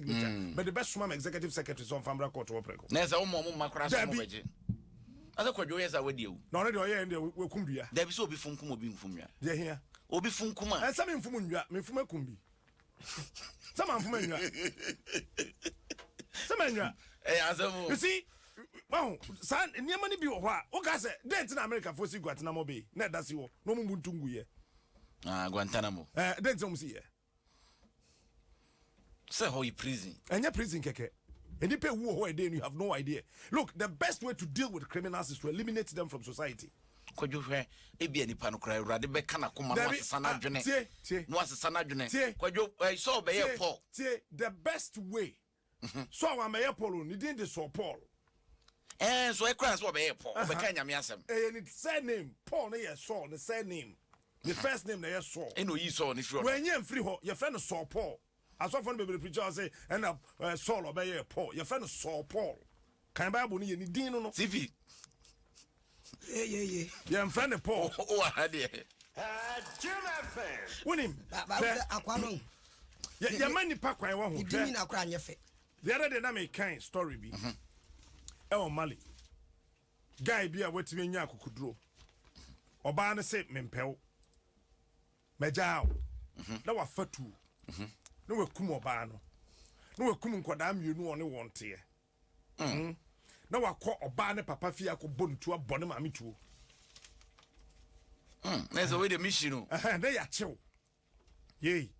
mogya. Mm. Mede bɛsoma me executive secretary sɛ ɔmfa mbra court hɔ prɛko. Na ɛsɛ wɔn wɔn mma koraa sɛ wɔn bɛgye. Asɛ kwadwo yɛ sɛ awadi awu. Na ɔno deɛ ɔyɛ ɛn deɛ wakum dua. Dabi sɛ obi funkum obi nfum nwa. Deɛ hia. Obi funkum a. Ɛnsɛ me nfum nwa, me nfum akum bi. Sɛ ma nfum nwa. Sɛ ma nwa. Ɛyɛ asɛm o. You see, wahu saa nneɛma no bi wɔ hɔ a woka sɛ dɛn nti na amerikafoɔ si guantanamo bay na ɛda si hɔ na ɔmu mbu nto nguyɛ ah, guantanamo eh, dɛn nti na ɔmu si yɛ sɛ hɔ yɛ prison ɛnyɛ prison kɛkɛ nnipa ewu wɔ hɔ ɛdɛn you have no idea look the best way to deal with criminals is to eliminate them from society kwadwo hwɛ ebi a nipa no kora awurade bɛka n'akoma na wasesa n'adwene na wasesa n'adwene kwadwo ɛsɛ ɔbɛyɛ pɔ tie the best way Mhm. So a wambɛyɛ Paul o, ne din de Saul Paul. Ɛɛ so ɛkura no sɛ ɔbɛyɛ Paul, Aha. ɔbɛka Nyame asɛm. Ɛyɛ ne surname, Paul no yɛ Saul ne surname. Ne first name na ɛyɛ Saul. Ɛna oyii Saul no firi ɔdɔ. Wanyi amfiri hɔ, yɛfrɛ no Saul Paul. Asɔfoɔ no bebree preachi a wɔse ɛna eh, Saul ɔbɛyɛɛ Paul, yɛfrɛ no Saul Paul. Kan Bible no yɛ ne din no no. Tifi. Ye ye ye. Yɛn fɛ ne Paul. O wa ha deɛ. Jim FM. Wonim. Ba ba sɛ akwa no. Yɛ yɛ ma nipa kwan wɔ ho. Di mi na kora nyɛ fɛ. The other day na me kan story bi. Mhm. Ɛwɔ Mali. Guy bi a watumi anya akokuduro. Ɔbaa no se mempɛw. Magyaa wo. Mhm. Na wafa tuo. Mhm. Na wakum ɔbaa no. Na wakum nkɔdaa mmienu ɔne wɔn teɛ. Mm. Na wakɔ ɔbaa ne papa fie akɔbɔ ne tuo abɔ ne maame tuo. Mm. Na ɛsɛ wei de mehyi no. Na yɛakyew. Yei.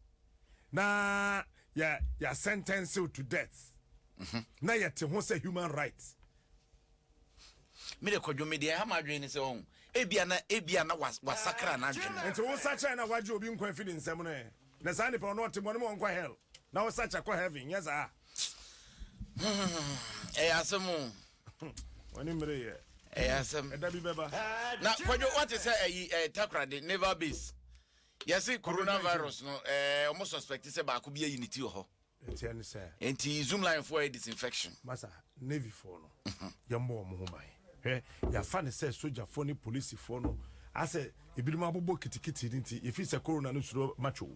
Na yɛ yɛ sentence to death. Mhm. Na yɛte ho sɛ human rights. Me de kɔdwo me deɛ ha ma adwene ne sɛ ɔho ebia na ebia na wasakra na adwene. Nti wo sakyɛ na wagye obi nkwa fi ne nsɛm no ɛ. Na saa nipa ɔno ɔte bɔ ne ma ɔnkɔ hell. Na wo sakyɛ kɔ heaven nyɛ saa. ɛyɛ asɛm o wɔne mmere yɛ ɛyɛ asɛm ɛda bi bɛba na kwadwo wate sɛ ayi ɛɛ eh, takorade naval base yɛse coronavirus no ɛɛ eh, wɔn suspect sɛ baako bi ayi ne ti wɔ hɔ nti ɛne sɛ nti zoom line fo ayɛ disinfection masa navy fo no mhm. yɛmmɔ wɔn ho ban hwɛ yɛafa ne sɛ sogyafoɔ ne polisifoɔ no asɛ ebinom abobɔ kitikiti no nti yɛfiri sɛ corona no suro matwo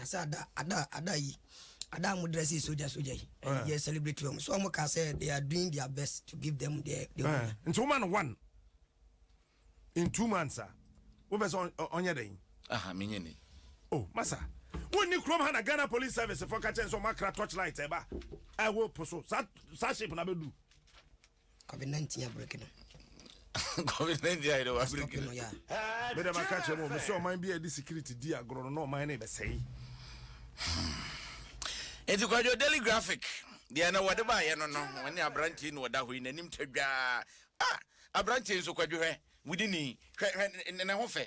I say Ada, Ada, Ada yi. Ada a mo dress yi soldier soldier yi. Uh. Yɛ celebrate wɔn. So wɔn ka say they are doing their best to give them their. their uh. Nti wɔn ma no one in two months a. Wo fɛ sɛ ɔnyɛ dɛ. Aha mi nye ni. Oh masa. Wo ni kurom ha na Ghana police service fɔ kakyɛ nsɔ mo akra torchlight ɛba. Ɛwɔ poso. Sa sa shape na bɛ du. covid nineteen abiriki no. covid nineteen ayɛ dɛ wa abiriki no. bɛ dɛm aka kyerɛ mu wɔn sɛ ɔman bi a yɛde sikiriti di agorɔ no na ɔman no bɛsɛe. nti kwadwo daily graphic deɛ na wɔde baayɛ no no wɔn ne aberanteɛ na ɔda hɔ yi n'anim twa dwaa ah aberanteɛ nso kwadwo hwɛ wudini hwɛ hwɛ ne ho fɛ.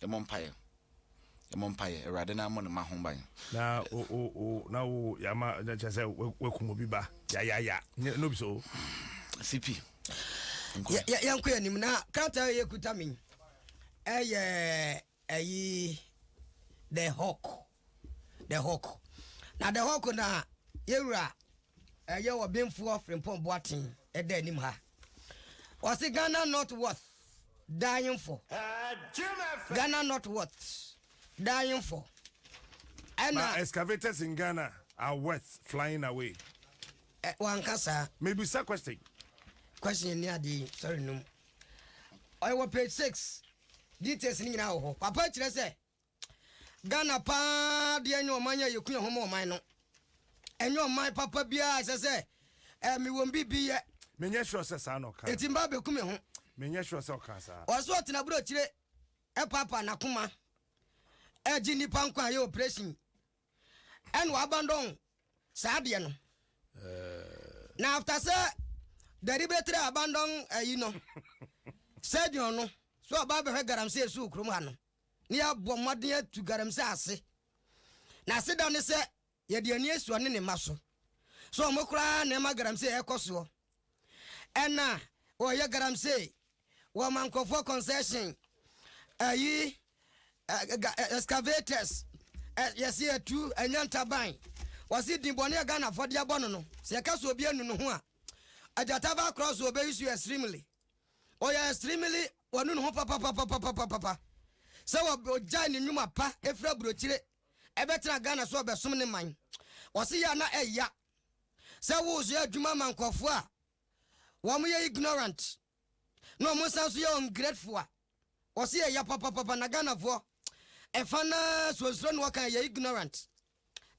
Yɛmmɔ mpaeɛ. Yɛmmɔ mpaeɛ. Awurade na ammɔ ne mma ho ban. Na o o o na o yama na kyerɛ sɛ wakum obi ba yayaya nyɛ no bi so. CP. Nkɔ. Yɛnkɔ yɛn anim na krataa yɛ kuta mi ɛyɛ ɛyi the hawk. The Hawk. Na The Hawk na yɛn wura ɛyɛ ɔbenfoɔ Frimpong Boateng ɛda anim ha. Ɔse Ghana not worth dying for. Ghana not worth dying for. Ɛna. But excavators in Ghana are worth flying away. Ɛ wanka saa. Mebisa question. Question ni ade sorry num. Ɔyɛ wɔ page six. Details ni nyinaa wɔ hɔ. Papa kyerɛ sɛ. Ghana paa deɛ nyɛ ɔman a yɛku yɛn ho ma ɔman no. Ɛnyɛ ɔman papa biara ɛsɛ sɛ eh, mewɔ biribi yɛ. Menyɛ sure sɛ saa na ɔkaa. Eti mba bɛku me ho. Menyɛ sure sɛ ɔkaa saa. Ɔso ɔtena aburokyire ɛpaapa n'akoma ɛgye nnipa nkwa yɛ operation ɛna wabandɔn saa adeɛ no. Eh. Na after sɛ deliberately abandon ɛyi no surgeon no so ɔba abɛhwɛ galamsey so kurom ha no. na yɛabɔ mmɔden atu galamsey ase. N'aseda ne sɛ yɛde ani asi ɔne ne mma so. So wɔn koraa na ɛma galamsey ɛrekɔ soɔ? Ɛna wɔyɛ galamsey wɔ ma nkurɔfoɔ concession, ayi, excavators, yɛse yɛtu ɛnya ntaban. Wɔse din bɔne a Ghanafoɔ de abɔ no no, sɛ yɛka sɛ obi anu ne ho a, agyata ba korɔ so wɔbɛyi so extremely. Ɔyɛ extremely wanu ne ho papapapapapapa sɛ ɔgyae ne nnwuma pa ɛfiri aburokyire ɛbɛtena Ghana so ɔbɛsom ne man. Ɔse yɛ a na ɛya sɛ woyɛ adwuma ma nkurɔfoɔ a wɔyɛ ignorant na wɔn nsa nso yɛ ungrateful a. Wɔse yɛ ya papapapa na Ghanafoɔ ɛfa no ara suasua na wɔka yɛ ignorant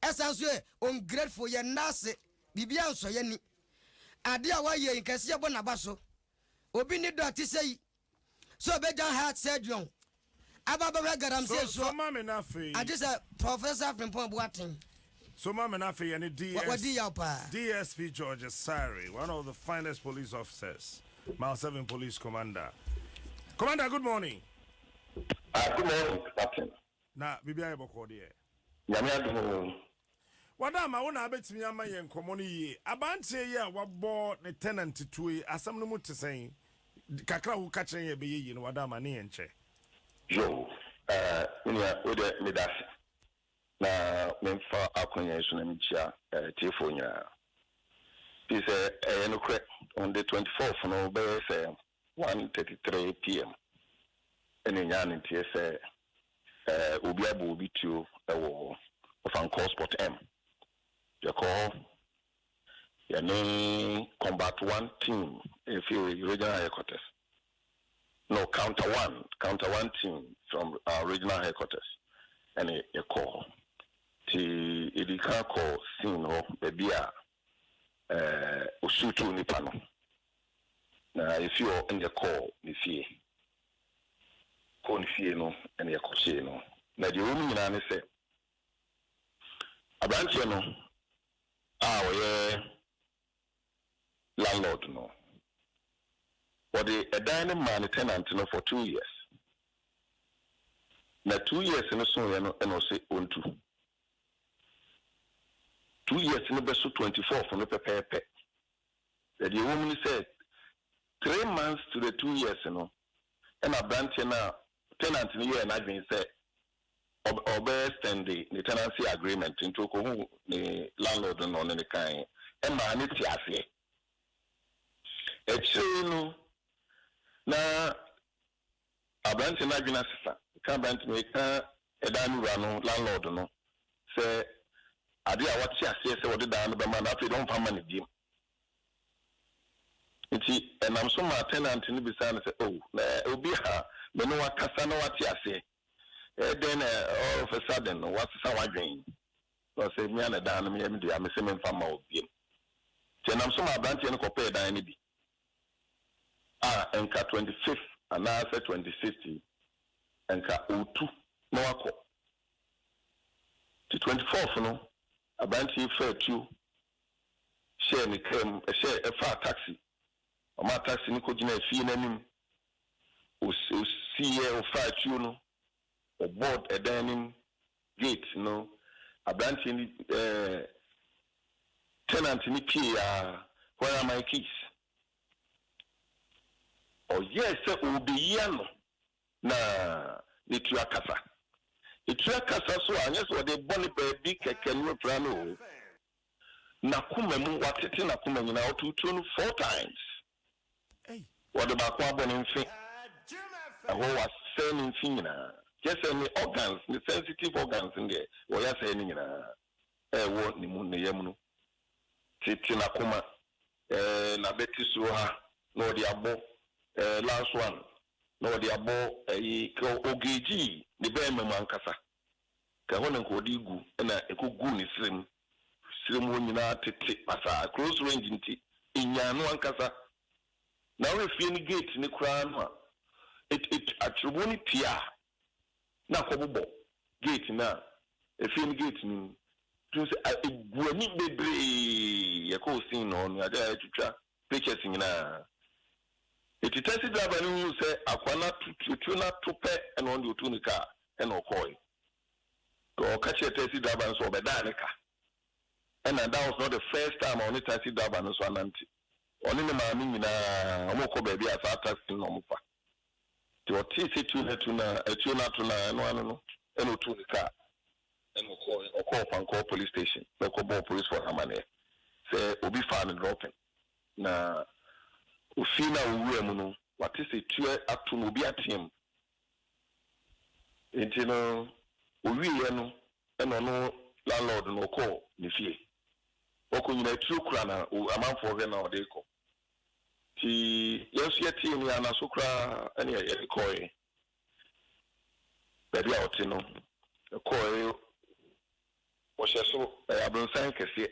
ɛsan nso yɛ ungrateful yɛ nna ase biribiara nsɔ yɛ ni adeɛ a wɔayɛ yi nka ɛsɛ yɛbɔ n'aba so obi ne dɔ a te sɛ yi sɛ ɔbɛgya heart surgeon aba abɛhwɛ galamsey soɔ agye sɛ Professor Frimpong Boateng. So ma me no afei yɛne DS Wadi yaw paa. DSP George Asare, one of the finest police officers, Mile Seven Police Commander. Commander, good morning. Ah, good morning, Captain. Na biribi ayɛ bɔkɔɔ deɛ? Nyame adom oo. Wada ama wo na abɛtumi ama yɛn nkɔmmɔ no yie. Aberanteɛ yi a wabɔ ne tenant tuo yi, asɛm no mu te sɛn? Kakra a woka kyerɛ yɛn a ɛbɛyɛ yie no, Wada ama ne yɛn nkyɛ. Yoo, eh, me nua, wo deɛ meda ase. na memfa akwannya yi so na menkyia atiefoɔ nyinaa. Firi sɛ ɛyɛ nokorɛ, on the 24th no bɛyɛ sɛ 1:33 PM ɛna ɛnyaa ne nteɛ sɛ obi abɔ obi tuo wɔ Ofankor Spot M. Yɛkɔɔ hɔ, yɛne Combat One team firi Regional Headquarters. No counter one counter one team from our regional headquarters ɛna yɛkɔɔ hɔ. Nti yɛdii kan kɔɔ scene hɔ baabi a ɛɛ wɔsuutuu nnipa no. Na yɛfiri hɔ ɛna yɛkɔɔ ne fie. Kɔɔ ne fie no ɛna yɛkɔhyee no. Na deɛ ɛwɔ mu nyinaa ne sɛ, aberanteɛ no a ɔyɛ landlord no. Wɔde ɛdan no maa ne tenant no for two years. Na two years no soeɛ no ɛna ɔse ɔntu. Two years no bɛso twenty fourth no pɛpɛɛpɛ. Na deɛ ɛwɔ mu ne sɛ three months to the two years no ɛna abranteɛ no a tenant no yɛɛ n'adwene sɛ ɔbɛ extend ne tenancy agreement nti ɔkɔhu ne landlord no na ɔne no kae ɛmaa no te aseɛ akyire no na abranteɛ no adwene asesa ka abranteɛ no ɛka ɛdan no wura no landlord no sɛ adeɛ a wate aseɛ sɛ ɔde dan no bɛma no afei deɛ ɔmfa ma no biom Enti ɛnam so maa tenant no bisaa no sɛ, Oh, na obi a me ne wo akasa na wate aseɛ? Ɛyɛ dɛn na all of a sudden no woasesa w'adwene? Na ɔsɛ, Mea na dan no yɛ me dea, mese memfa mma wo bio. Enti ɛnam so maa aberanteɛ no kɔpɛɛ dan no bi a nka twenty fifth anaasɛ twenty sixth yi nka ɔretu na wakɔ. Enti twenty fourth no aberanteɛ yi faa tuo hyɛɛ ne kaa mu, ɛhyɛɛ, ɛfaa taksi. Ɔmaa taksi no kɔgyinaa fie no anim. Ɔs, ɔsiiɛ, ɔfaa atuo no, ɔbɔɔ ɛdan anim gate no. Aberanteɛ no, ɛɛ, tenant no pueeɛ ara, Where are my keys? Ɔyɛɛ sɛ ɔrebɛyi ano. na ne tua kasa. Ne tua kasa so a, ɛnyɛ sɛ ɔde rebɔ no baabi kɛkɛ ne ɔpira no oo. N'akoma mu, watete n'akoma nyinaa, ɔtow tuo no four times. Wɔde baako abɔ ne mfe, ɛhɔ wɔasɛe ne mfe nyinaa. Kyerɛ sɛ ne organs, ne sensitive organs no deɛ, wɔyɛ asɛe ne nyinaa. ɛwɔ ne mu, ne yam no, tete n'akoma, ɛɛ, n'abati soro ha, na ɔde abɔ, ɛɛ, last one, na ɔde abɔ, ɛyi, kɛ ɔgegii ne bɛɛma mu ankasa, kɛ ɛhɔ na nka ɔde gu, ɛna ɛkɔguu ne serɛ mu, serɛ mu hɔ nyinaa tete pasaa, close range nti, ɛnyaa no ankasa. Na wohwɛ fie no gate no koraa no a, it, it, atwerɛmu no tiaa. na akɔbobɔ gate no a efie no gate no mu. Nti sɛ a egu ani bebree yɛkɔɔ scene no hɔ no yɛade ayɛtwitwa pictures nyinaa. Nti taxi driver no huu sɛ akoa no ato tuo no ato pɛ ɛna ɔno deɛ ɔtuu ne car ɛna ɔkɔɔe. Nti ɔka kyerɛɛ taxi driver no sɛ ɔbɛdaa ne ka. Ɛna that was not the first time a ɔne taxi driver no nso anante. Ɔne ne maame nyinaa wɔkɔ baabi a saa taxi no na wɔfa. Nti ɔtee sɛ tuo no atu no a, atuo no ato no a, ɛno ano no, ɛna ɔtuu ne kaa. Ɛna ɔkɔɔe, ɔkɔɔ Ɔpankɔɔ Police Station na ɔkɔbɔɔ polisfoɔ no amaneɛ sɛ obi faa no dropping. Na ofie no a ɔwuraa mu no, wate sɛ tuo ato no, obi ateam. Nti no, ɔwieeɛ no, ɛna ɔno landlord no ɔkɔɔ ne fie. Ɔkɔ nyinaa, tuo kura no a, amanfoɔ hwɛ no a ɔde rekɔ. Nti yɛn nso yɛtee nne anna so koraa ɛne yɛde kɔɔe baabi a ɔte no. Yɛkɔɔe, ɔhyɛ so ɛyɛ abronsan kɛseɛ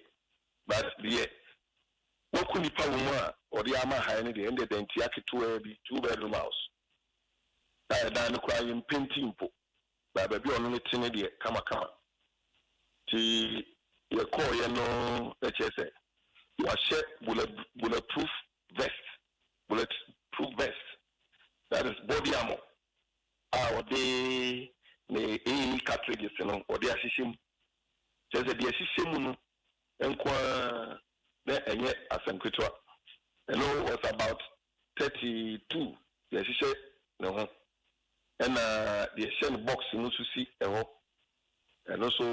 but deɛ waku nipa wɔ mu a ɔde ama han no deɛ ɛndeɛ dantia ketewaa bi, two bedroom house a ɛdan no koraa yɛn mpenti mpo. Na baabi a ɔno no te no deɛ, kamakama. Nti yɛkɔeɛ no, na kyerɛ sɛ wahyɛ bullet bulletproof vest, bullet proof vest, that is body armour a ɔde ne AA cartridges no ɔde ahyehyɛ mu. Kyerɛ sɛ deɛ ɛhyehyɛ mu no nko ara na ɛnyɛ asɛm ketewa. Ɛno was about thirty two deɛ ɛhyehyɛ ne ho ɛna deɛ ɛhyɛ no box mu nso si ɛhɔ ɛno nso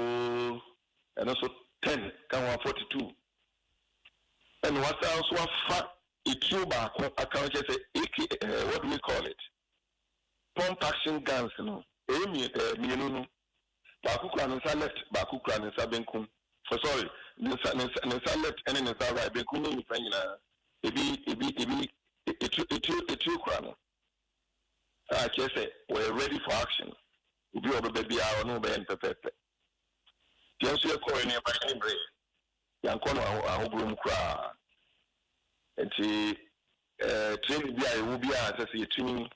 ɛno nso ten ka ho a forty two ɛna wasan nso afa etuo baako aka ho kyɛ sɛ ak ɛɛ what do we call it pump action guns no ɛyɛ mmienu no Baako kura ne nsa left, baako kura ne nsa benkum. Oh sorry, ne nsa ne nsa ne nsa left ɛne ne nsa right, benkum ne nifa nyinaa. Ebi ebi ebi etire etire etire kura no. A kyerɛ sɛ wɔyɛ ready for action. Obi a ɔbɛba biara ɔne wo bɛyɛ no pɛpɛɛpɛ. Yɛn nso yɛkɔɔɛ no yɛbaeɛ no mmerɛɛ. Yɛankɔ no ahohoro mu koraa. Enti training bi a yɛwɔ biara ɛsɛ sɛ yɛtumi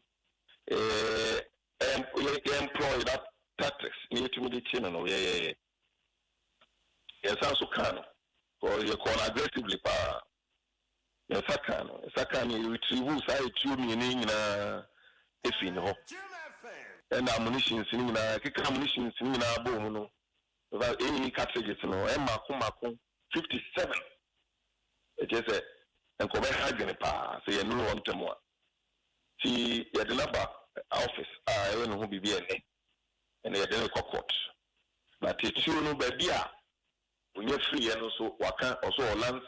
yɛ employ that tactics na yɛtumi de kye no no, yɛyɛeɛ. Yɛnsa nso kaa no because yɛkɔɔ no aggressively paa. Yɛnsa kaa no, yɛnsa kaa no, yɛ retrievuu saa atuo mmienu yi nyinaa fii ne hɔ ɛna ammunitions no nyinaa, yɛkeka ammunitions no nyinaa bɔɔ mu no, Because eyi cartridges no yɛ mako mako fifty seven, ɛkyerɛ sɛ nkɔbɛ ha adwene paa sɛ yɛ nuru hɔ ntɛm a. Nti yɛ de no aba office a yɛ yɛ ne ho biribi ɛnɛ, ɛna yɛ de no rekɔ court. Na titiriw no baabi a onya firi yɛ no nso waka ɔsɛ ɔwɔ lanse.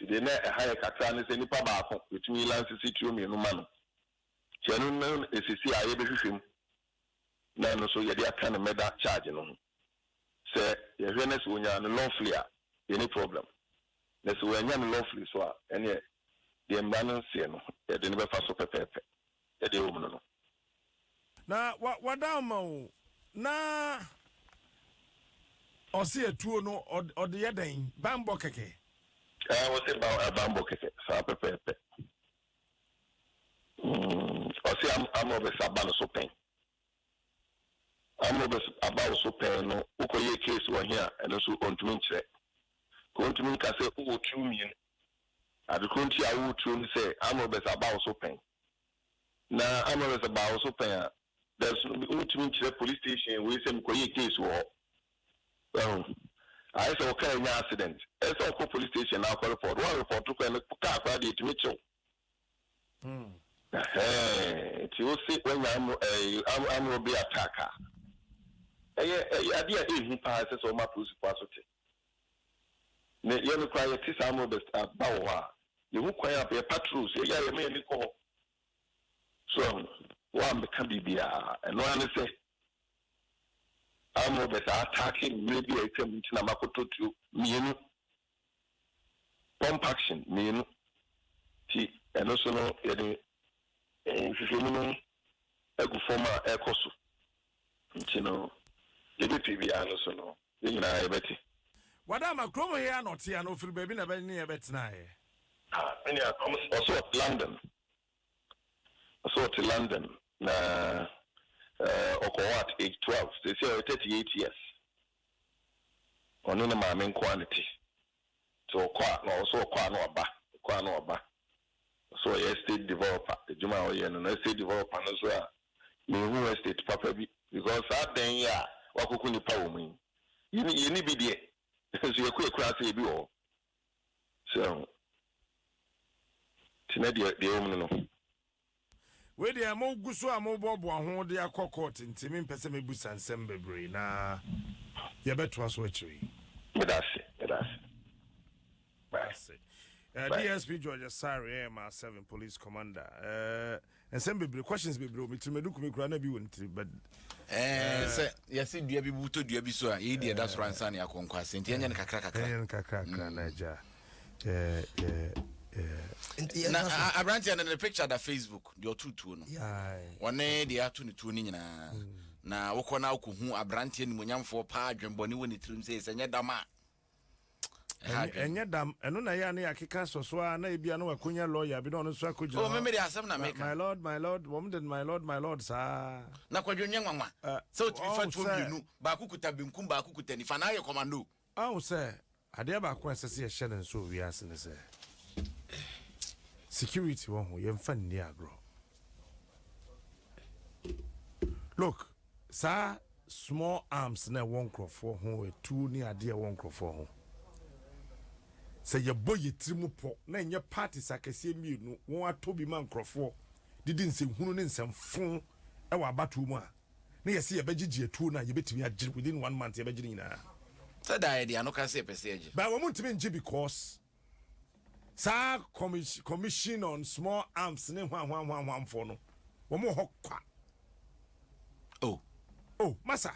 Nti deɛ na ɛha yɛ kakra ne sɛ nipa baako yɛ tumi yi lanse sitiro mmienu ma no. Nti ɛno no na ɛsisi a yɛ bɛ hwehwɛ mu na ɛno nso yɛde aka ne murder charge no ho. Sɛ yɛhwɛ na sɛ ɔnya no lawfully a, yɛnni problem. Na sɛ wannya no lawfully nso a, ɛneɛ deɛ mmara no seɛ no, yɛde no bɛfa so pɛpɛɛpɛ. Sɛdeɛ ɛwɔ mu no no. Na wada ama wo na ɔse atuo no ɔde yɛ dɛn? Banbɔ kɛkɛ? Ɛɛ, ɔse banbɔ kɛkɛ, saa pɛpɛɛpɛ. Mm, ɔse am, amrobes aba no so pɛn. Amrobes aba wo so pɛn no, wokɔ yɛ case wɔ he a, ɛno nso ɔntumi nkyerɛ. Ka ɔntumi nka sɛ wowɔ tuo mmienu. Ade koro nti a wowɔ tuo ne sɛ amrobes aba wo so pɛn. Na amrobes baa wo so pɛn a, there's, wontumi nkyerɛ police station wei sɛ mekɔ yɛ case wɔ hɔ. Wahu? Ayɛ sɛ wo car anya accident. Ɛyɛ sɛ ɔkɔ police station na akɔ report. Wo anreport kwan no, car koraa deɛ ɛtumi kye wo. Ɛhɛɛ, nti wo se wanya amro ɛɛ armed robbery attack a, ɛyɛ ɛyɛ adeɛ a ɛyɛ hu paa a ɛsɛ sɛ wɔma polisifo aso te. Ne yɛn koraa yɛte saa armed robbers a ba wɔ hɔ a, yɛhu kwan a yɛ patrols yɛyɛ a yɛma yɛn ani kɔ hɔ. So wahu? Woammeka biribiara. Ɛno ara ne sɛ Armed robbers a ataake mmerɛ bi a atwa mu nti na makɔtɔ tuo mmienu, pump action mmienu, nti ɛno nso no yɛde nhwehwɛmu no agu fam a ɛrekɔ so, nti no deɛ ɛbɛpie biara no so no yɛn nyinaa yɛbɛte. Wada ama kurom he a na ɔte anaa ɔfiri baabi na ɛbɛn ne yɛn bɛtenaeɛ? Ah, me nua, ɔse ɔte London. Ɔse ɔte London na ɔkɔwoo at age twelve, seesei ɔyɛ thirty eight years. Ɔne ne maame nko ara na ɛte. Nti ɔkɔ a na ɔse ɔkɔ a na waba, ɔkɔ a na waba. Ɔse ɔyɛ estate developer, adwuma a ɔyɛ no no estate developer no nso a menhuu estate papa bi because saa dan yi a wakoko nnipa wɔ mu yi yɛnni bi deɛ nso yɛkɔ yɛkura ase yɛ bi wɔ hɔ. Sɛho te na deɛ deɛ ɛwom no no. Wei deɛ mo guso a mo boaboa ho de akɔ court nti me mpɛ sɛ me busa nsɛm bebree na yɛbɛtoa so akyire yi. Meda ase meda ase. Bye. Ase. Uh, Bye. DSP George Asare, AMR 7 Police Commander. Uh, nsɛm bebree questions bebree wɔ me tirim edu kumi koraa na bi wɔ ne tirim but. ɛɛ eh, sɛ yɛsi dua bi wotɔ dua bi so a yɛyi deɛ ɛda soro eh. ansa ne akɔ nkwasi nti ɛnyɛ no kakra kakra ɛnyɛ no kakra kakra mm. na agya ɛɛ ɛɛ ɛɛ. na aberanteɛ no ne picture da facebook deɛ ɔto tuo no wɔne deɛ ato ne tuo no nyinaa mm. na wokɔ na wokɔ hu aberanteɛ nimonyamfoɔ paa adwembɔne wɔ ne tirim sɛ sɛ nyɛ dam a. ha Ɛny- adwene. ɛnyɛ dam ɛno na ɛyɛ a na yɛakeka sɔ so a na ebia na wakɔnya lɔya bi na ɔno nso akɔgyina Oh, hɔ. me mede asɛm na Ma- meka. my lord my lord wɔn de no my lord my lord saa na kwadwo nyɛ nwanwa Eh, sɛ wotumi fa ɔwo tuo sɛ- mmienu baako kuta benkum baako kuta nifa na ayɛ kɔmando ahu sɛ adeɛ baako a ɛsɛ sɛ yɛhyɛ no nso wɔ wiase no sɛ security wɔ ho yɛmfa nni agorɔ look Saa small arms no a ɛwɔ nkurɔfoɔ ho, atuo ne adeɛ a ɛwɔ nkurɔfoɔ ho, sɛ yɛbɔ yɛn tiri mu pɔ na ɛnyɛ parties akɛseɛ mmienu wɔatɔ bi ma nkurɔfoɔ de di nsɛnhunu ne nsɛmfo wɔ abatoɔ mu a, na yɛse yɛbɛgyegye atuo no a, yɛbɛtumi agye within one month, yɛbɛgye ne nyinaa. Sɛ daa yɛde ano ka sɛ yɛpɛ sɛ yɛgye. But wɔntumi ngye because. saa commis commission on small arms ne hwanhwanhwanhwanfoɔ no wɔn wɔ hɔ kwa oh oh masa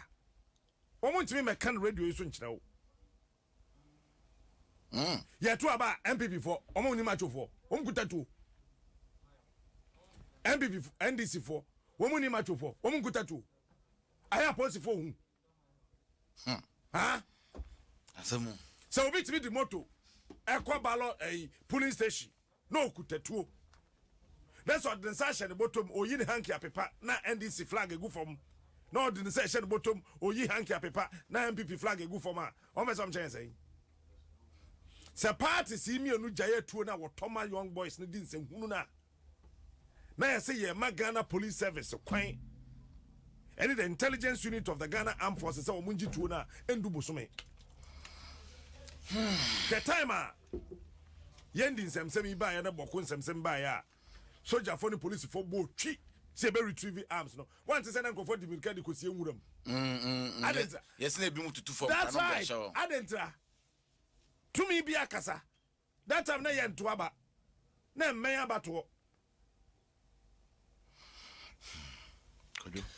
wɔn ntumi mɛka no radio yi so nkyerɛ wo mm. yɛto aba npp foɔ wɔn nim atwofoɔ wɔn kuta tuo npp ndc foɔ wɔn nim atwofoɔ wɔn kuta tuo ayɛ apolisifoɔ hu sɛ obi tumi de moto ɛkɔ balɔ ɛyi polling station na okuta tuo na sɛ ɔde nsa ahyɛ ne bɔtɔm oyi ne hanky apepa na ndc flag egu fam na ɔde nsa ahyɛ ne bɔtɔm oyi hanky apepa na npp flag egu fam a wɔn fɛ sɛ wɔn kyɛn sɛn sɛ party si mmienu gyae atuo na wɔtɔ ma young boys ne di nsɛnhunu na. na ayɛ sɛ yɛrema Ghana Police Service kwan ne the Intelligence Unit of the Ghana Armed Forces sɛ wɔn ngye tuo no a ɛndu bosome. Hwɛ time a yɛn di nsɛmsɛm yi baeɛ na bɔko nsɛmsɛm baeɛ a sojafoɔ ne polisifoɔ bɔ twi sɛ ɛbɛ retrieve arms no wante sɛ na nkurɔfoɔ di mirika de kɔsie nwura mu. Mm, mm, mm. Adentra. Yɛsɛ na ebinom tutu fam. That's right. Adentra. Tumi bi akasa. That time na yɛnto aba na ɛmmɛn abatoɔ.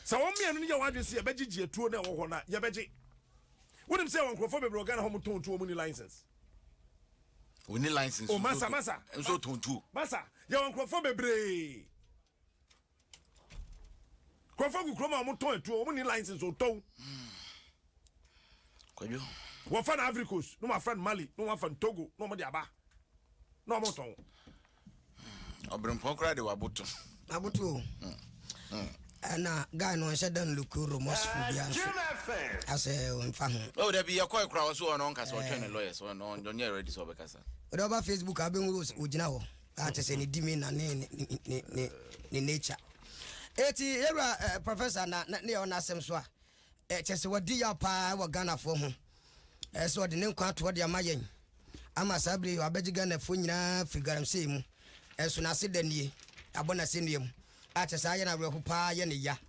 Sɛ wɔn mmienu no yɛ wɔn adwene sɛ yɛbɛgyegye atuo na ɛwɔ hɔ no a yɛbɛgye. Wonim sɛ wɔn nkurɔfoɔ bebree wɔ Ghana hɔ wɔtɔn tuo wɔn ni license. Wɔn ni license. O oh, masa masa. Nso tɔn tuo. Masa yɛ wɔn nkurɔfoɔ bebree. Nkurɔfoɔ gu kurom a wɔtɔn atuo, wɔn ni license ɔtɔn. Kwadwo. Wɔfa no Ivory Coast, na wɔafa no Mali, na wɔafa no Togo, na wɔde aba, na wɔtɔn. Ɔbrempɔn koraa de waboto. Aboto o. Hmm. Hmm. Ɛna guy no nhyɛ dɛ no look remorseful bi aso. Asɛ nfa ho. O oh, dabi yɛkɔe koraa wɔ so ɔno ɔnkasa ɔtwɛn ne eh. lawyers ɔno ɔnyɛ ready sɛ ɔbɛkasa. Ɔdɛ ɔba Facebook abɛhu ogyina hɔ. Ah kyɛ sɛ ne di me na ne ne ne ne ne nature. Eti yɛwura eh, professor na na ne yɛ ɔna asɛm so a eh, kyɛ sɛ wadi yaw paa wɔ Ghanafoɔ ho eh, sɛ ɔde ne nkwa atoɔ de ama yɛn ama saa bere yi wabɛgye Ghanafoɔ nyinaa firi galamsey mu eh, so n'ase da nie abɔ n'asɛnnua mu ah kyɛ sɛ ayɛ no awerɛho paa yɛ ne ya.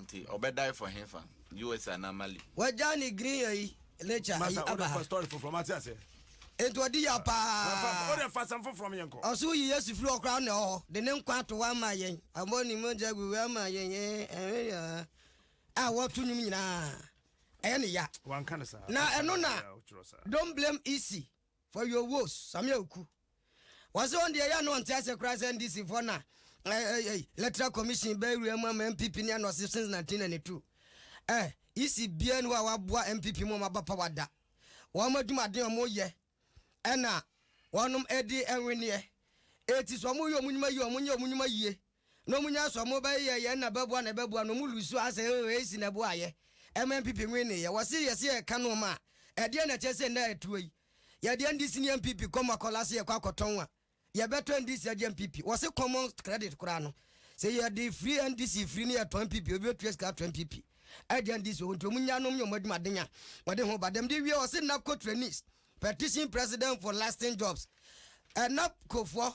Nti ɔbɛdae fɔ hefa? US anaa Mali? Wagyaa ne green ayi ne kyɛ ayi aba ha. Masa wode fa story foforɔ mate aseɛ. Enti ɔdi yaw paa. Wode fa asɛm foforɔ me yɛnkɔ. Ɔse woyi Yesu firi hɔ koraa na ɛwɔ hɔ de ne nkwa ato hɔ ama yɛn. Ɔbɔ ne mogya gu hɔ ama yɛn ɛɛ a wɔto nnwom nyinaa ɛyɛ ne ya. Wanka no saa. Na ɛno na don't blame EC. For your woes, Samia Oku. Wɔse wɔn deɛ ɛyɛ no ɔnte aseɛ koraa sɛ NDC foɔ na electoral commission bɛyɛ wura mu ama NPP ne anɔse since 1992. Eh, EC biara ni hɔ a waboa NPP mu wɔn aba power da. Wɔn adwumaden a wɔn yɛ ɛna wɔnom ɛde ɛnweneɛ. Eti sɛ wɔn yɛ wɔn nnwuma yie a wɔn nyɛ wɔn nnwuma yie. na ɔmo nya sɔ ɔmo ba yɛ yɛn na bɛboa na bɛboa na ɔmo lusu a sɛ oh eisi na ɛboa yɛ ɛma npp nwe ne yɛ wɔse yɛse yɛka noɔma a ɛdeɛn na ɛkyɛ sɛ nnɛ a ɛtuo yi yɛdeɛ ndc ne npp kɔm akɔla se yɛkɔ akɔtɔn a yɛbɛtɔ ndc agye npp wɔse common credit koraa no sɛ yɛde firi ndc firi ne yɛtɔn npp obi bɛtua sika atɔ npp agye ndc ɔmo nti ɔmo nya nom nyɛ ɔmo adwumaden a wɔde ho ba dɛm de wie wɔse nap co trainees petition president for lasting jobs ɛnap kofoɔ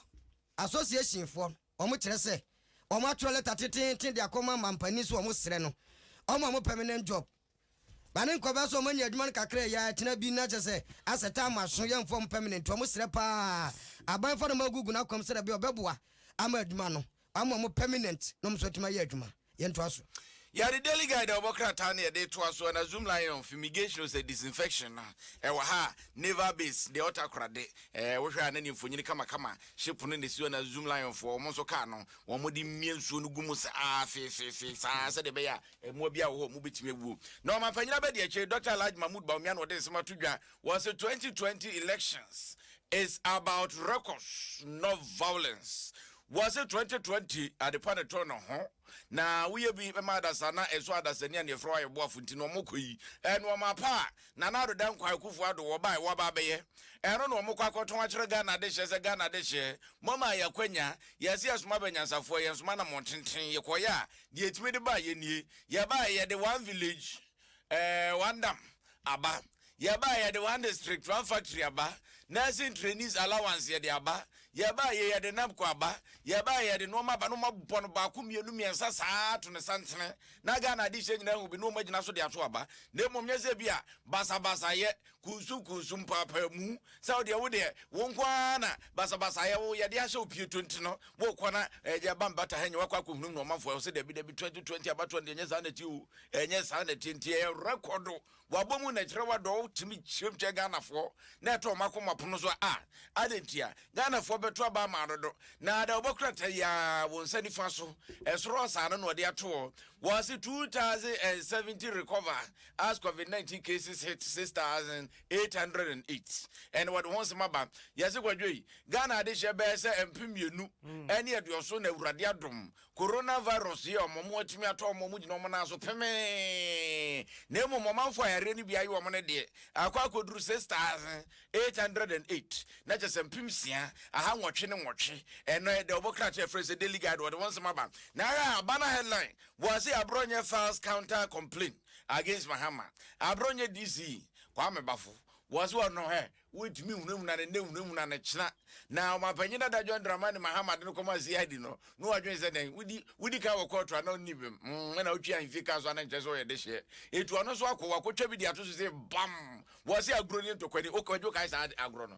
association foɔ no Wɔkyerɛ sɛ wɔatwerɛ lɛta teteete de akɔma mampanin sɛ wɔsrɛ no ɔma wɔn permanent job. Ba ne nkɔba sɛ wɔanya adwuma no kakra a ɛyɛ a ɛtena bi na kyerɛ sɛ asɛ time aso yɛmfa wɔn permanent. Wɔsrɛ pa ara a aban fa nɔma gugu n'akwan mu sɛdeɛ ɛbɛyɛ a ɔbɛboa ama adwuma no ama wɔn permanent na wɔn nso atumi ayɛ adwuma. Yɛntoa so. Yɛ The Daily Guide a wɔbɔ krataa no yɛde retoa so. Ana Zoom Lion of Fumigation o sɛ Disinfection no wɔ ha a, Naval Base, deɛ ɔtaa kora de, eh, wohwɛ a na ne mfonyini kamakama hye pono na ɛsi hɔ na Zoom Lion foɔ wɔn nso kaa no, wɔde mia nsuo no gu mu sa aa feefeefee sa aa sɛdeɛ ɛbɛyɛ a mmoa biara wɔ hɔ a wɔbɛtumi awuo. Na ɔmanpanyin abɛdi akyire, Doctor Alhaji Mahmood Bawumia na ɔde nsɛm ato dwa, wɔse 2020 elections is about records not violence. Wɔse twenty twenty adepa na ɛtɔ no ho na woyɛ bi bɛma adasa na ɛso adasa ni a nea ɛfrɛ wayɛ boafo nti na wɔn kɔ yi ɛnoɔma pa a Nana Ado Dankwa Akufo Ado wɔbae wɔaba abɛyɛ ɛno na wɔn kɔ akɔtɔn akyerɛ Ghana adehyɛ sɛ Ghana adehyɛ moama yɛ akwanya yɛse yɛsoma bɛ nyansafoɔ yɛnsoma na mɔntenten yɛkɔyɛ a deɛ ɛtumi de ba yɛ nie yɛbae yɛde one village Ɛɛ wandam aba yɛba yɛde one district one factory aba nursing trainees allowance yɛde aba yɛba yɛ yɛde napco aba yɛba yɛde nnoɔma aba na ɔma bɔ no baako mmienu mmiɛnsa saa to ne santene na Ghana adehyɛ nyinaa hu bi na ɔma gyina so de ato aba na mmom nyɛ sɛ bi a basabasayɛ kunsunkunsun mpaapaamu sɛ wodeɛ wodeɛ wo nko ara na basabasayɛ wo yɛde ahyɛ wo pie tonti no wokɔ na ɛyɛ aba mbata ha nyɛ wakɔ akɔhunum na ɔmanfoɔ ɛwɔ sɛ dabi dabi 2020 abatoɔ no deɛ ɛnyɛ saa na ɛteɛ o ɛnyɛ saa na ɛteɛ nti ɛyɛ rekɔdo wabɔ mu na ɛkyerɛ wadɔ wo tumi kyerɛm kyɛ Ghanafoɔ na ɛtɔ ɔma kɔma pono so a adɛ nti a Ghanafoɔ bɛto aba ama adodo na ada wɔbɛkura ta yia wo nsa nifa so ɛsoro ɔsaa no na ɔde atoɔ wɔse 2070 recover as covid nineteen cases hit six thousand eight hundred and eight ɛna wɔde ho nsɛm aba yɛse kwadwo yi ghana adehyɛ bɛyɛ sɛ mpem mmienu ɛne aduɔso na awurade adom coronavirus yi a wɔn wɔn atumi atɔ wɔn wɔn gyina wɔn nan so pemee na emu wɔn amanfo ayareɛ no bi ayɛ wɔn no deɛ akɔ akɔduru six thousand eight hundred and eight na kyɛ sɛ mpem sia aha nwɔtwe ne nwɔtwe ɛnɔ ɛdɛ wɔbɔ krataa ɛfrɛ sɛ daily guide wɔde ho nsɛm aba na ara aba na headline Boase Abronyɛ files counter complaint against Mahama, Abronyɛ DC Kwame Bafo boase wɔ no hɛ, wontumi nhunahuna no nnɛ nhunahuna no kyena, na Ɔmanpanyin Dada John Dramani Mahama de no kɔmaa CID no na wadwen sɛ dɛn, wodi wodi kan wɔ kɔɔto anaa onni bem, mm ɛna otwe ahemfie kaa so a na nkyerɛ sɛ ɔyɛ dehyeɛ, etu ɔno nso akɔ, wakɔtwa bi de ato so se bam! Boase Agorɔ nie ntɔkwani, Okwadwo kae saa agorɔ no,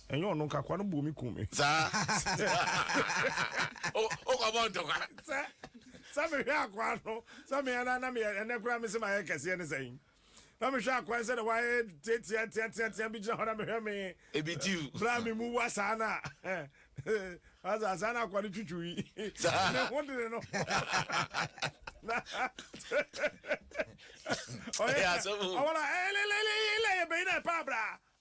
Ɛnyɛ ɔno nka akoa no bɔɔ me kum me. Saa. Wokɔbɔ ntɔkwa. Sɛ sɛ mehwɛ akoa no sɛ me ara na meyɛ ɛnɛ koraa mese mayɛ kɛseɛ ne sɛn. Na mehwɛ akoa no sɛdeɛ wayɛ teateateateatea bi gyina hɔ na mehwɛ me. Ebi tiw. Berɛ a me mu wa saa no a. Asa saa na akoa no twitwiw yi. Saa. Ne ho dene no. Na ɔyɛ asɛm o. Ɔwɔ na ɛlɛlɛlɛlɛ yɛ bɛyi na ɛpa abra.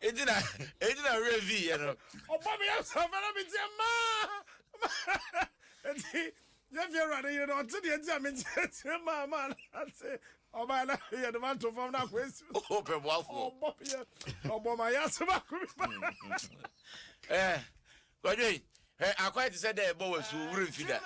eti na eti na wura vi yɛ no. ɔbɔ mi yɛ sɔfɛ na mi tiɛ maa eti yɛ fi ewura de yɛ no ɔte deɛ ti a mi tiɛ tiɛ maa maa na ase ɔba yɛ na yɛ de ma to fam na akɔ esi. o pɛ buafo. ɔbɔ mi yɛ ɔbɔ ma yɛ ase baako mi ba. ɛɛ Kwadwo, hwɛ akwae te sɛ dɛ ɛbɔ wo asu, wo werɛ mfi da.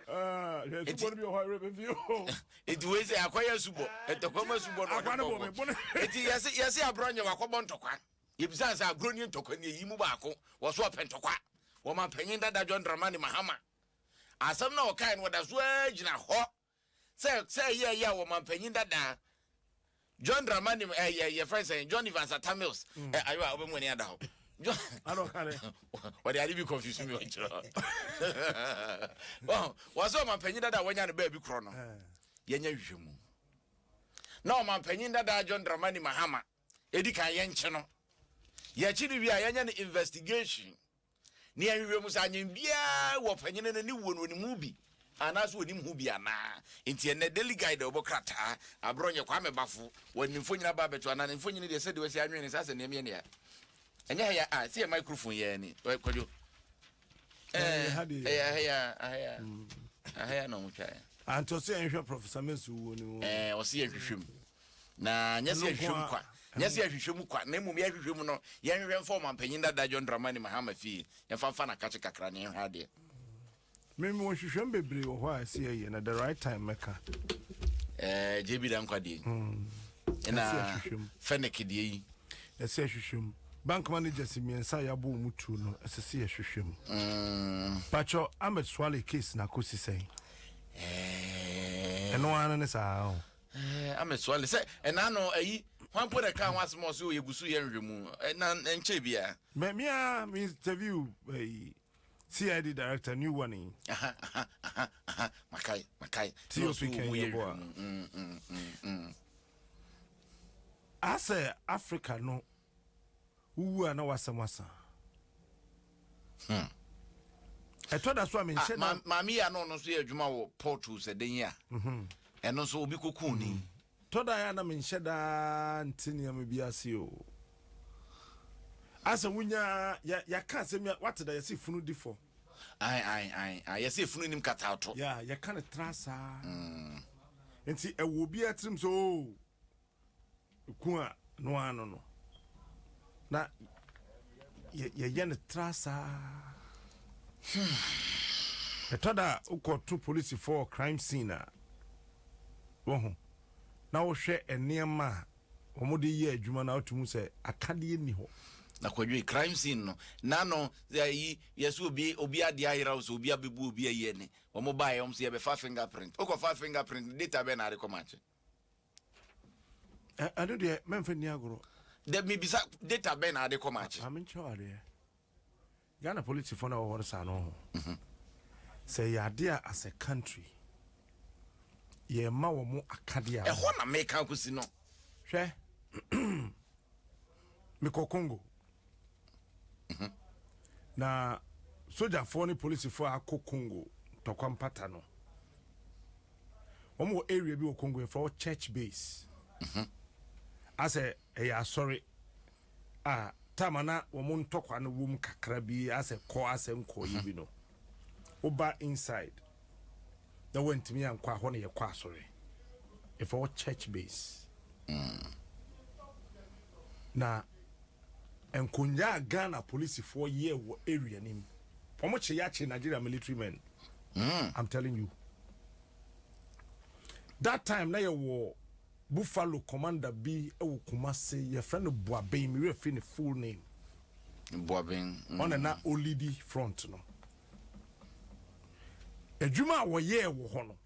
Ah, hwɛ asubɔ no bi wɔ hɔ a werɛ bɛfi o. Enti wei sɛ akwae asubɔ, ntɔkwa mu asubɔ na ɔde bɔ bo. Enti yɛse, yɛse agorɔ nyɛ, wakɔbɔ ntɔkwa. Yɛbisaa sɛ, agorɔ nie ntɔkwa nie, yi mu baako? Wɔse ɔpɛ ntɔkwa. Wɔn ɔmanpanyin dada John Dramani Mahama, asɛm no a ɔkae no, ɔda so ara gyina hɔ. sɛ sɛ ɛyɛ ɛyɛ a wɔmanpanyin dadaa John Dramani ɛ yɛ yɛ fɛn sɛn John Evans Atamils mm. ɛ ayiwa ɔbɛ mu ani ada hɔ John ɔde ade bi confuse mi ɔkyerɛ wɔn sɛ ɔmanpanyin dadaa wɔnya ne baabi korɔ no eh. yɛnya hwehwɛ mu na ɔmanpanyin dadaa John Dramani Mahama edi kan yɛn kye no yɛkyi ne wie a yɛnyɛ no investigation. Nea nhwehwɛmu sɛ anyen biara wɔ ɔpanyin no ne wuo no, onim ho bi anaasɛ onim ho bi anaa? Enti ɛnnɛ Daily Guide a wɔbɔ krataa abrɛ ɔnyɛ Kwame Bafo wɔ ne mfonyin aba abɛto anaa? Ne mfonyin deɛ sɛdeɛ wɔasi anwen no saa sɛ nea ɛmeɛ nea ɛnyɛ ha yi a sɛ yɛ microphone yɛ ni kwadwo ɛyɛ ha yi a aha yi a aha yi a na wɔn twa yɛ. Antɔ sɛ yɛn hwɛ Professor Mensu wuo no. Ɛɛ ɔsi yɛn hwehwɛ mu. Na nyɛ sɛ yɛhwehwɛ mu kwa, nyɛ sɛ yɛhwehwɛ mu kwa, na mmom yɛhwehwɛ mu no, yɛnhwehwɛ mfa Ɔmanpanyin Dada John Dramani Mahama fie, yɛmfa mfa n'akakye kakra na yɛnhwɛ adeɛ. Me mewɔ nhwehwɛm bebree wɔ hɔ a ɛsɛ yɛyɛ na the right time mɛka. Ɛɛ JB Dankwah deɛ yi. Hmm. Ɛna Fennick deɛ yi. Ɛsɛ yɛhwehwɛ mu. Bank managers mmiɛnsa a yɛabɔ wɔn tuo no ɛsɛ sɛ yɛhwehwɛ mu. Hmm. Pakyɛ Ahmed Swale case na akɔsi sɛn? Ɛɛ. Ɛno ara ne saa o. Ɛɛ ama sua le sɛ ɛna ano ayi hwan po na ɛka ho asɛm a ɔsɛ o yɛgu so yɛ nhwɛmu ɛna nkyɛ bia. Mɛ mia mi interview ɛyi CID director new one yi. Aha aha aha aha makai makai. Ti o fi kɛn yɛ bɔ a. Asɛ Africa no Wo wu a na w'asɛm asa. Hmm. Ɛtɔ da so a menhyɛ ah, da. Maame yi a na ɔno nso yɛ adwuma wɔ pɔtoo sɛ den yi a. Mhm. Ɛno nso obi koko ni. Mhm. Tɔ da yɛ a na menhyɛ da nte nneɛma bi ase o. Asɛ wonya yɛka asɛm bi a wate da yɛse funu di fɔ. Ae ae ae ae yɛse funu nim kata ato. Ya yɛka no tra saa. Mm. Nti ɛwɔ obi atirim sɛ o. Oh, Ku a no ara no no, na yɛyɛ no tra saa. Hmm. Ɛtɔ da a wokɔto polisifo wɔ crime scene a, wɔho, na wohwɛ nneɛma a wɔde yɛ adwuma na wotumi sɛ akadeɛ nni hɔ. na kwadwe crime scene no na no yi yɛsɛ obi obi ade ayeraw so obi abebu obi ayɛ ne wɔn baeɛ wɔn so yɛbɛfa fingerprint wokɔfa fingerprint data bɛn na ade kɔma akye ɛno deɛ mɛmfa nni agorɔ dɛ mebisa data bɛn na ade kɔ makye amenkyerɛ wadeɛ ghana politifoɔ no a wɔhɔ no saa no ho mhm. sɛ yɛ ade a as a country yɛma wɔ mo akadeɛ a ɛhɔ na meka kɔsi no hwɛ Mekɔ Congo. Mhm. Na sogyafoɔ ne polisifoɔ a akɔ Congo ntɔkwa mpata no, wɔn wɔ area bi wɔ Congo yɛfrɛ wɔ church base. Mhm. Asɛ ɛyɛ asɔre a tama na wɔn ntɔkwa no wom kakra bi asɛ kɔ asɛ nkɔyɛ mhm. bi no. Woba inside. na wantumi ankɔ a hɔ na yɛkɔ asɔre yɛfrɛ hɔ church base mm. na nkonnwa a ghana polisifoɔ yɛ wɔ area no mu wɔn kye yɛakye nigeria military men mm. i'm telling you that time na yɛwɔ buffalo commander bi wɔ kumase yɛfrɛ no boaben mewɛ firi ne full name boaben mm. ɔna na olidi front no adwuma a wɔyɛɛ wɔ hɔ no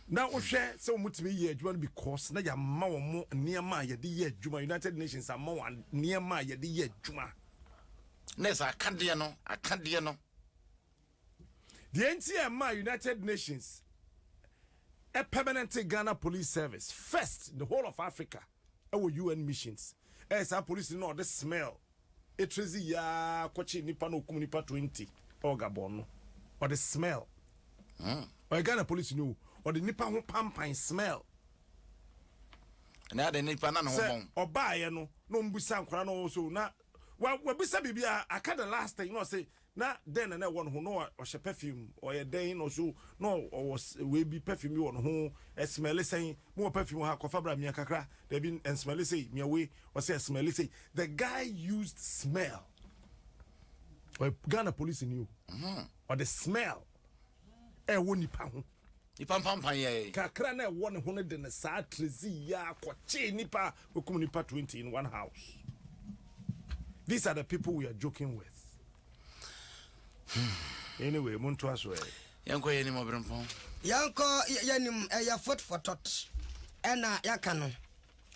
na wohwɛ sɛ wɔtumi yɛ adwuma no because na yɛama wɔn mo nneɛma a yɛde yɛ adwuma united nations ama wɔn nneɛma a yɛde yɛ adwuma na ɛsɛ akadeɛ no akadeɛ no deɛ nti a ɛma united nations a permanent ghana police service first the whole of africa ɛwɔ un missions ɛyɛ saa police no na ɔde smell Ekyir dze yi ara kɔkye nyimpa na okum nyimpa twenty wɔ Gabon no, ɔdze smell. Ɔyɛ Ghana polisinyi o, ɔdze nyimpa ho panpan, smell. Na adɛn nipa na ne ho bɔn. Sɛ ɔbaeɛ no na ɔmmbisa nkwadaa no ɔwɔ so na wabisa biribi a aka the last thing na ɔse Na dɛn na na ɛwɔ ne ho? Na ɔhyɛ perfume, ɔyɛ dɛn? Na ɔso na ɔwɔ wei bi, perfume bi wɔ ne ho, ɛsmɛle sɛn? Me wɔ perfume wɔ ha, kɔfa bra, mia kakra, dabi, ɛnsmɛle sei, mia wei, ɔse ɛsmɛle sei. The guy used smell, ɔyɛ Ghana polisini o, ɔde smell ɛwɔ nipa ho. Nipa mpampan yɛ yɛn. Kakra na ɛwɔ ne ho no de ne saa trezi yɛ akɔkyee nipa a wakum nipa twenty in one house. These are the people we are joking with. Hmm. Anyway, mo ntoa so ɛ. Yɛnkɔ yɛn anim ɔbrempɔn. Yɛnkɔ yɛn anim ɛyɛ fotfotɔt ɛna yɛaka no.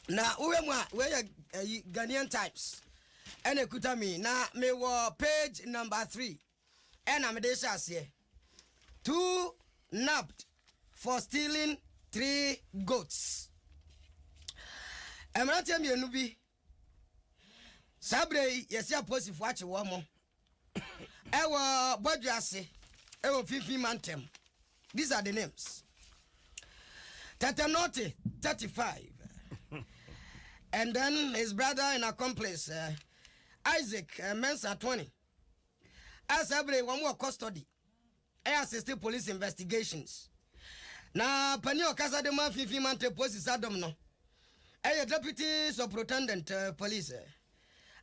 Na wohwɛ mu a wei yɛ ɛyi Ghanaian Times ɛna ekuta mi na mewɔ page number three. ɛna mede rehyɛ aseɛ two nabbed for stealing three goats mmeranteɛ mmienu bi saa berɛ yi yɛsi apolisifoɔ akye wɔn mo ɛwɔ bɔdwe ase ɛwɔ finfin mantam these are the names Tatanote 35 and then his brother and accomplice uh, Isaac uh, Mensa 20 a saa bere wɔn wɔ custody ɛyɛ assisted police investigations na panin a ɔkasa de ma finfin mante polisi sadom no ɛyɛ deputy superintendent eh, police eh.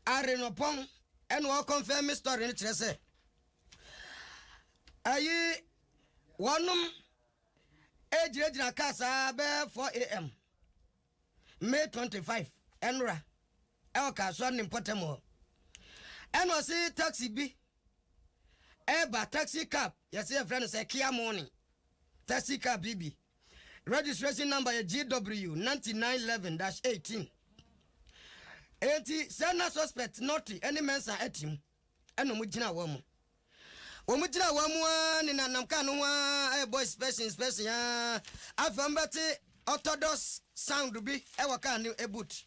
arenopɔn ɛna ɔkɔnfɛn me story no kyerɛ sɛ ayi wɔnom egyinagyina kaa saa bɛɛ 4 am. May twenty five nnora wɔ Kasoa ne mpɔtam hɔ. Ɛna ɔse taxi bi ɛreba taxi cab yɛse yɛfrɛ no sɛ Kia Morning taxi cab yi bi registration number yɛ GW ninety nine eleven dash eighteen. Enti sɛ na suspect Nortey ne Mensah te mu. Ɛna ɔmo gyina hɔ mo. Ɔmo gyina hɔ mo aa nenanam kaa no ho aa ɛɛbɔ inspection inspection aa afei ɔmo bɛte orthodox sound bi ɛwɔ kaa no boot.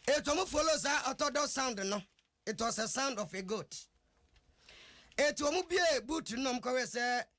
Eti ɔmo follow saa orthodox sound no it was a sound of a goat. Eti ɔmo bue boot no na ɔmo kɔhwɛɛ sɛ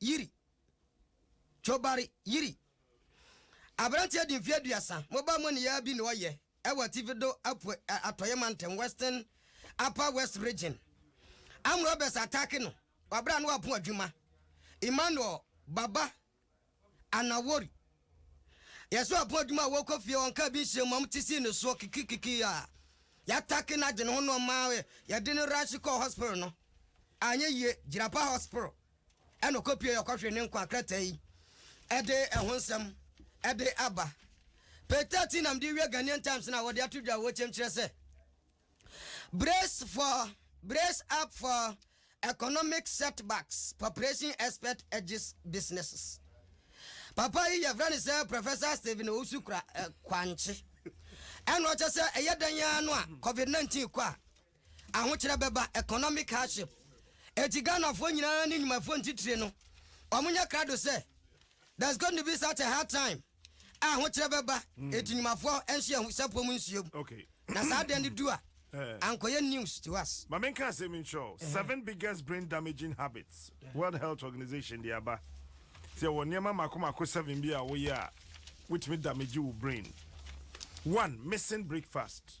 Yiri. Jobari Yiri. Aberanteɛ de mfeɛ aduasa, mobaa mu nneyɛeɛ bi na ɔyɛ wɔ Atifi do Apuei Atɔeɛ Mantam, Western Upper West Region. Armed robbers attack no wɔ berɛ a na wapo adwuma. Emmanuel Baba Anawori. Yɛse wapo adwuma a wɔkɔ fie ɔnkaa bi nhyɛ mu, wɔn ti sii ne soɔ kikikiki a yɛatake no agye ne ho na ɔma yɛde no raahye kɔɔ hospital no anyɛ yie, Jirapa Hospital. Ɛnna ɔkɔpuee ɔkɔhwee ne nkwa krataa yi de ɛho nsɛm de aba. Page thirteen na mede rewie Ghanaian Times no a wɔde ato dwa wɔ kyɛm kyerɛ sɛ, Brace for, Brace up for economic setbacks, Population expert urges businesses. Papa yi yɛfrɛ no sɛ Professor Stephen Owusu Kra, eh, Kwankye. Ɛnna ɔkyɛ sɛ ɛyɛ dɛn ara no a Covid-19 kɔ a, Ahokyerɛ bɛba, economic hardship, enti Ghanafoɔ nyinaa ne nnwumafoɔ ntitire no, wɔnyɛ krado sɛ there's going to be such a hard time a ahokyerɛ bɛba, hmm. enti nnwumafoɔ nhyɛ ahusapɔ mu nsuom. Okay. Na saa adeɛ no du a, eh. ankɔyɛ news to us. Ma menka asɛm yi nkyerɛ eh. seven biggest brain damaging habits World Health Organization de aba. Sɛ wɔ nneɛma mako mako seven bi a woyɛ a, wotumi damage wo brain. One, missing breakfast.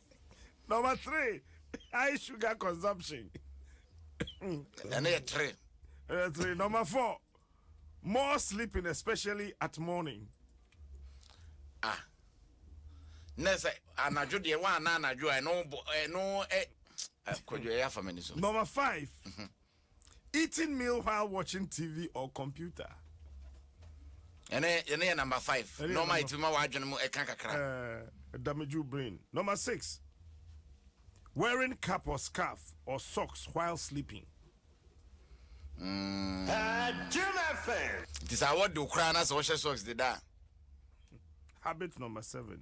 Number three, high sugar consumption. And then three. And three. Number four, more sleeping, especially at morning. Ah. na sɛ anadwo deɛ woana anadwo a ɛno ɛno ɛ kɔdwo ɛyɛ afa m'ani so number five mm -hmm. Eating meal while watching TV or computer. Ɛnɛ yɛne yɛ number five. Nɔɔma yɛtumi ma w'adwene mu ɛka kakra. Ɛɛ eh, damage your brain. Number six. Wearing cap or scarf or socks while sleeping. Mm. Nti sɛ awɔ de koraa na sɛ wɔhyɛ socks de da. Habit number seven.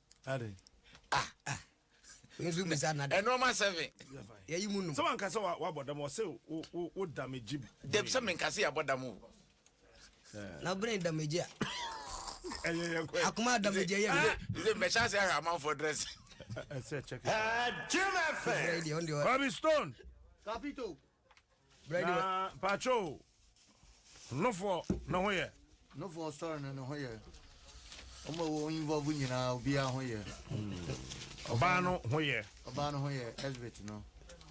Ade. Ah ah. Nso bi sa na de. Ɛno ɔma seven. Ya yi mu no. Sɛ wanka sɛ wa bɔ dam ɔsɛ wo wo wo damage. Dɛm sɛ menka sɛ ya bɔ dam o. Na brain damage a. Ɛyɛ yɛ kɔ. Akoma damage ɛyɛ mi. Ɛsɛ mbɛhyɛ ase ahwɛ amanfoɔ dress. Ɛsɛ check it. Ɛɛ Jim Efe. Ɔbi stone. Kapito. na pacho nofoɔ ne ho yɛ nofoɔ sɔre no ne ho yɛ ɔmo a wɔn involve nyinaa obiara ho yɛ ɔbaa no ho yɛ ɔbaa no ho yɛ exhibit no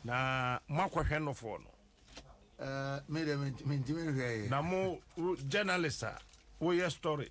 na mo akɔhwɛ nofoɔ no ɛɛ mi de mi ntumi nhwɛ yɛ na mo journalist a woyɛ story